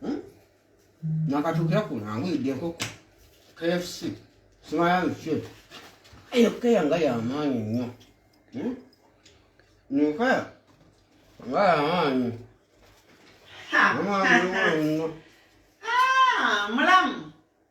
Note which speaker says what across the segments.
Speaker 1: hmm? nakatuukira kuno angulidde enkoko kfc simayaluki eyo keya nga yamaanyi nnyo hmm? nkeya nga yamaanyi omwana nnyo
Speaker 2: ah, mulamu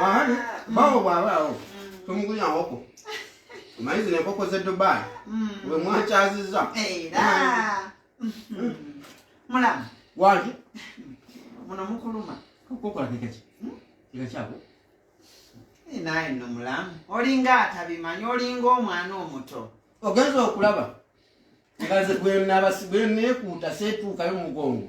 Speaker 2: Ahani,
Speaker 1: bawo bwaba awo. Tumugulira nkoko. Omanyi zino enkoko z'e Dubai. Mm. Bwe mwakyazizza. Era. Mm.
Speaker 2: Mulamu. Waki? Muno mukuluma. Kukola kekeki.
Speaker 1: Hmm? Kekakyako. Eh,
Speaker 2: naye no mulamu. Olinga atabimanyi, olinga omwana omuto. Ogenza okulaba.
Speaker 1: Ngaze gwe nabasi gwe nekuuta seetuukayo mugongo.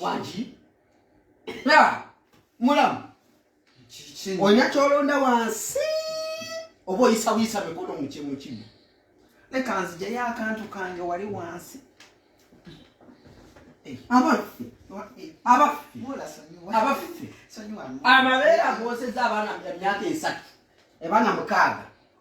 Speaker 2: wangi
Speaker 1: na mulamu olina kyolonda wansi oba oyisabuyisa mikono mukimu kimu leka
Speaker 2: nzijayo akantu kange wali wansi eh, abaffe
Speaker 1: eh, abaffe abaffe amabeera agoseza abaana myaka esatu ebaana mukaaga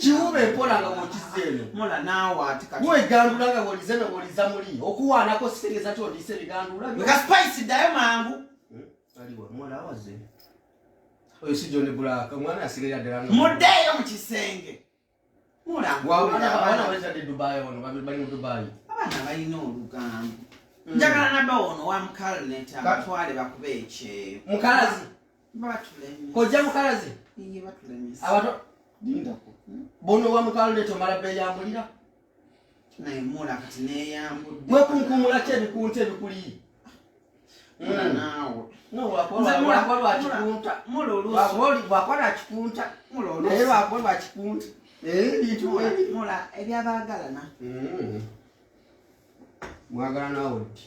Speaker 1: kiwuba empola nga bwokizza eno mola naawe ati
Speaker 2: kati wegandula nga bwolize no
Speaker 1: bwoliza muli okuwaanako sitegeeza ti odiise ebigandula nga spice ddayo
Speaker 2: mangu eh, aliwa
Speaker 1: mola awaze oyo si john black omwana yasigaira ddala muddeeyo mu kisenge
Speaker 2: mola abaana
Speaker 1: balitadde dubai ono bali mu dubai abaana balina
Speaker 2: olugambo hmm. njagala nabawo ono wa mukalneta batwale bakube ekyeyo mukalazi kojja mukalazi abato
Speaker 1: bono wamukalule tomala beyambulira
Speaker 2: wekunkumula ki
Speaker 1: ebikunta ebikuliyi bwakola
Speaker 2: kikunta
Speaker 1: naye lwako
Speaker 2: lwa kikunta
Speaker 1: ebyabagalana mwagala nawe ti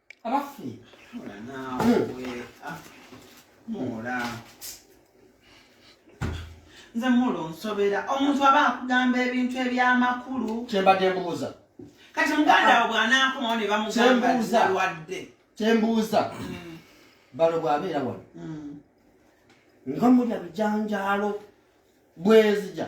Speaker 1: abaffe
Speaker 2: muula nze muula onsobera omuntu aba akugamba ebintu ebyamakulu kyembadde mbuuza
Speaker 1: kati muganda
Speaker 2: wo bwanakomawo ne bamugambalwadde kyembuuza mm. balo
Speaker 1: bwabeera wano mm. nga mulya bijanjaalo bwezija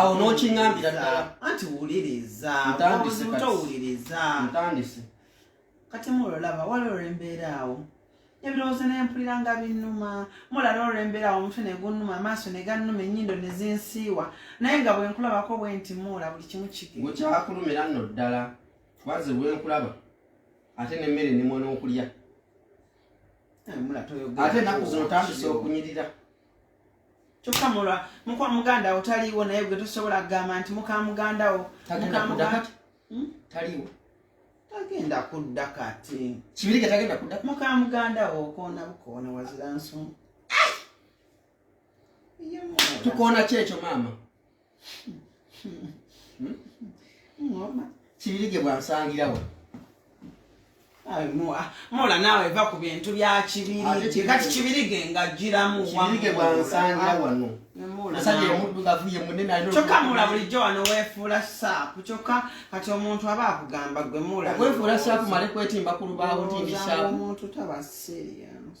Speaker 1: awo n'okiŋambira ddala anti wuliriza
Speaker 2: towuliriza
Speaker 1: ntandise kati
Speaker 2: mulolaba waliwo olwembeera awo ebirowoozo nempulira nga binnuma mulala olwembeera awo omutwe negunnuma amaaso negannuma ennyindo nezinsiiwa naye nga bwenkulabako bwe nti muula buli kimu kigekyakulumira nno
Speaker 1: ddala kubanze bwenkulaba ate nemmere nemwa n'okulya ate naku zino otandise okunyirira
Speaker 2: kyokka mulwa mukwa muganda wo taliiwo naye gwe tosobola kugamba nti muka muganda wo hmm? taliiwo
Speaker 1: tagenda
Speaker 2: kudda kati kibirige tagenda kudda
Speaker 1: muka muganda wo
Speaker 2: okoona bukoona wazira nsonga
Speaker 1: tukoona kyekyo maama ngoma kibirige bwansangirawo
Speaker 2: mola naawe va ku bintu bya kibirige kati kibirige nga jjiramu kibirige
Speaker 1: bwansangira wano kyokka mula bulijjo
Speaker 2: wano weefuula saapu kyokka kati omuntu aba akugamba gwe mulaweefuula saapu male
Speaker 1: kwetimba ku lubaawo nti ndi saapu omuntu taba
Speaker 2: serious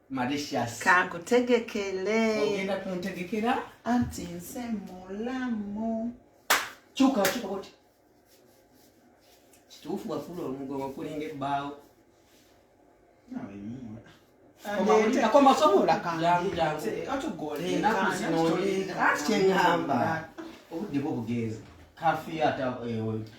Speaker 1: Mauritius. Kankutegekele.
Speaker 2: Ogenda
Speaker 1: kuntegekera? Anti nse
Speaker 2: mulamu. Kyuka
Speaker 1: kyuka koti. Kituufu wafuula omugongo kulinga ebbaawo. Nawe mumwe. Akoma sobola kankyengamba obudde bwo bugenzi kafiya ata ewe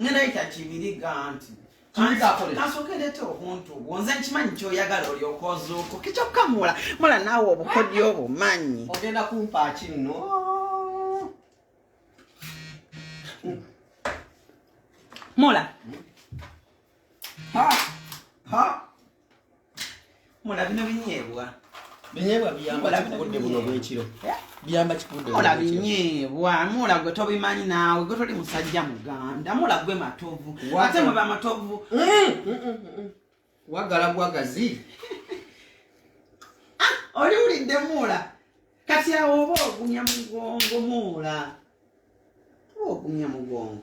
Speaker 1: ngenda yita kibiri
Speaker 2: ganti kasokerete obuntu bwo nze nkimanyi kyoyagala olyoka ozuuko kikyokka mula mula naawe obukodyo obumanyi ogenda kumpa
Speaker 1: kinno
Speaker 2: mula ha ha mulabino binyeebwa binyeebwa
Speaker 1: biyamba kikudde buno bwekiro eh? biyamba kikudde mula binyeebwa
Speaker 2: mula gwe tobimanyi naawe gwe toli musajja muganda mula gwe matovu ate mwe bamatovu mm, mm, mm,
Speaker 1: wagala gwagazi
Speaker 2: ah, oli wulidde muula kati awo oba ogumya mugongo muula oba ogumya mugongo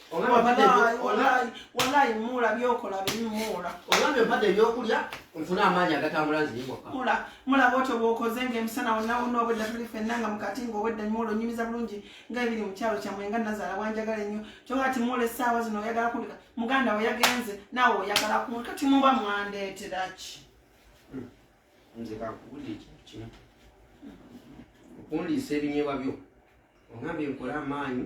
Speaker 2: walayi muula byokola biri muula olabye empadde
Speaker 1: ebyokulya nfuna amaanyi agatambula nziyimwaka mula mulaba otyo
Speaker 2: bwokoze nga emisana wonawona obwedda tuli fenna nga mukati nga obwedda muula onyumiza bulungi nga ebiri mu kyalo kyamwe nga nazaala wanjagala ennyo kyoka ti muula essaawa zino oyagala kulika muganda we yagenze naawe oyagala ku kati muba mwandeetera ki
Speaker 1: hmm. nze kakubuli ekintu kino okundiisa ebinyebwa byo ongambye nkola amaanyi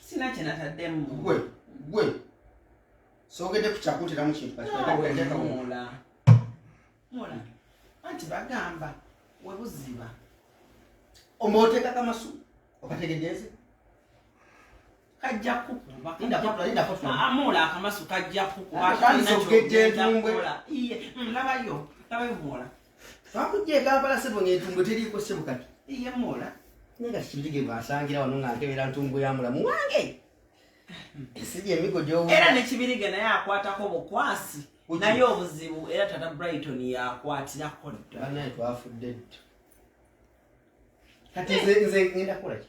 Speaker 2: sina kyenataddemu gwe gwe
Speaker 1: sogedde ku kyakutiramu kintu kakiaula mula
Speaker 2: anti bagamba webuziba
Speaker 1: omba oteekako amasu okategedeeze
Speaker 2: kajja kukubaamula
Speaker 1: akamasu kajja
Speaker 2: kukuba
Speaker 1: labayo
Speaker 2: labayo mwola Twakujja e
Speaker 1: Kampala ssebo ng'entumbwe teriiko ssebo kati. Iye mwola.
Speaker 2: Naye kati kibirige
Speaker 1: bw'asangira wano nga nkebera ntumbwe ya mulamu wange. Esigi emigo gy'owuula. Era ne kibirige naye
Speaker 2: akwatako bukwasi. Naye obuzibu era tata Brighton yakwatirako dda. Banaye twafudde
Speaker 1: dda. Kati nze nze ngenda kukola ki?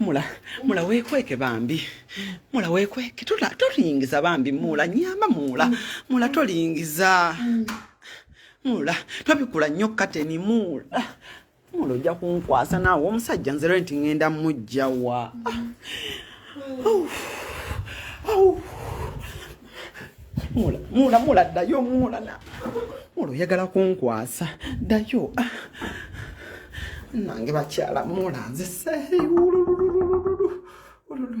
Speaker 2: mula mula wekweke bambi mula wekweke tolingiza bambi mula nyamba mula mula tolingiza mula twabikula nnyo kateni mula mula ojja kunkwasa naawe omusajja nzero nti ngenda mujjawa mm. mula mula mula ddayo mula na mula oyagala kunkwasa ddayo ah. nange bakyala mula nze seeyi wululululululu wululu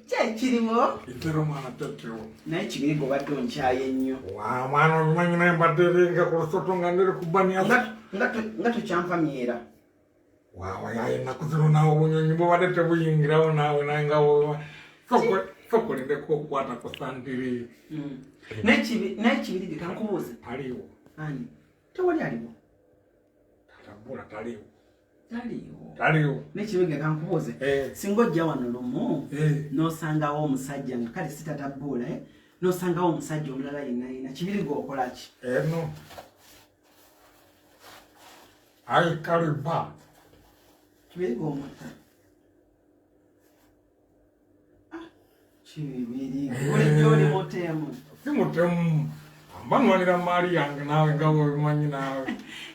Speaker 3: kyekirimu
Speaker 2: itera omwana
Speaker 3: tetewo naye kibiriga obadde
Speaker 2: onkyaye nnyo omwana obimanyi
Speaker 3: naye mbadde ringa ku lusoto nga ndiri ku baniya nga
Speaker 2: tukyampamyera wawa
Speaker 3: yaye ennaku zino nawe obunyonyi bubadde tebuyingirawo nawe naye nga sokolindeko okukwata ku sandiri
Speaker 2: hmm. naye kibiriga kankubuuze aliwo ani tewali aliwo
Speaker 3: tatabula taliwo
Speaker 2: taliwo nekibenge kankubuuze eh. singa ojja wano lumu eh. nosangawo omusajja nga kale sitatabbuula eh? nosangawo omusajja omulala yenna yenna kibiri gwokolaki eno
Speaker 3: aikaliba
Speaker 2: kibiri gwomutta si mutemu
Speaker 3: mbanwanira maali yange naawe nga webimanyi naawe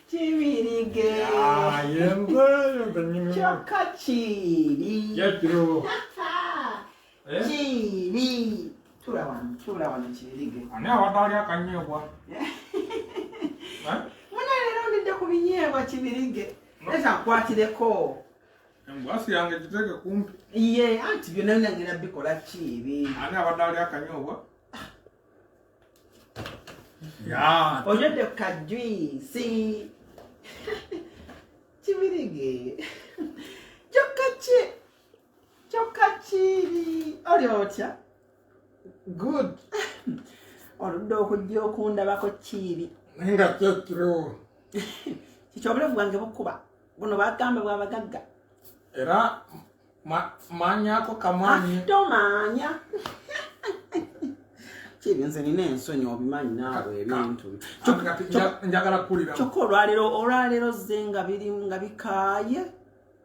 Speaker 3: kibirige kyokka kiri
Speaker 2: kiri tula wano kibirige ani abadde ali
Speaker 3: akanyeebwa
Speaker 2: muna leero ndidde ku binyeebwa kibirige leta nkwatireko Basi
Speaker 3: yange jiteke kumpi. Iye, anti byona
Speaker 2: yona ngina bikola ki ebi. Ani abadde ali
Speaker 3: akanyobwa? Ya. Onyodde ku
Speaker 2: kajwisi. Kibirige. Kyokka ki? Kyokka kiri. Oli otya?
Speaker 3: good
Speaker 2: oludde okujja okundabako kiibi naye nga kyekiro kikyo obulavu bwange bukuba buno bagamba bwabagagga era
Speaker 3: manyako kamani ah, tomanya
Speaker 2: kibi nze nina ensonyi obimanyi naawe ebintu
Speaker 3: njagala kulira kyokka olwaleero
Speaker 2: olwaleero zze nga biri nga bikaaye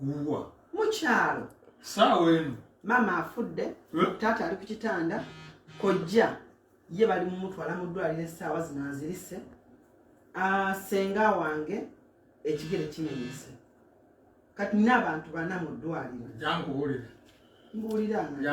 Speaker 3: wuwa mukyalo
Speaker 2: saawa eno
Speaker 3: maama afudde
Speaker 2: eh? taata ali ku kitanda kojja ye bali mumutwala mu ddwaliro essaawa zino azirise ah, senga wange ekigere kimenyese kati nina abantu bana mu ddwaliro jankuwulira
Speaker 3: mbuwulira nga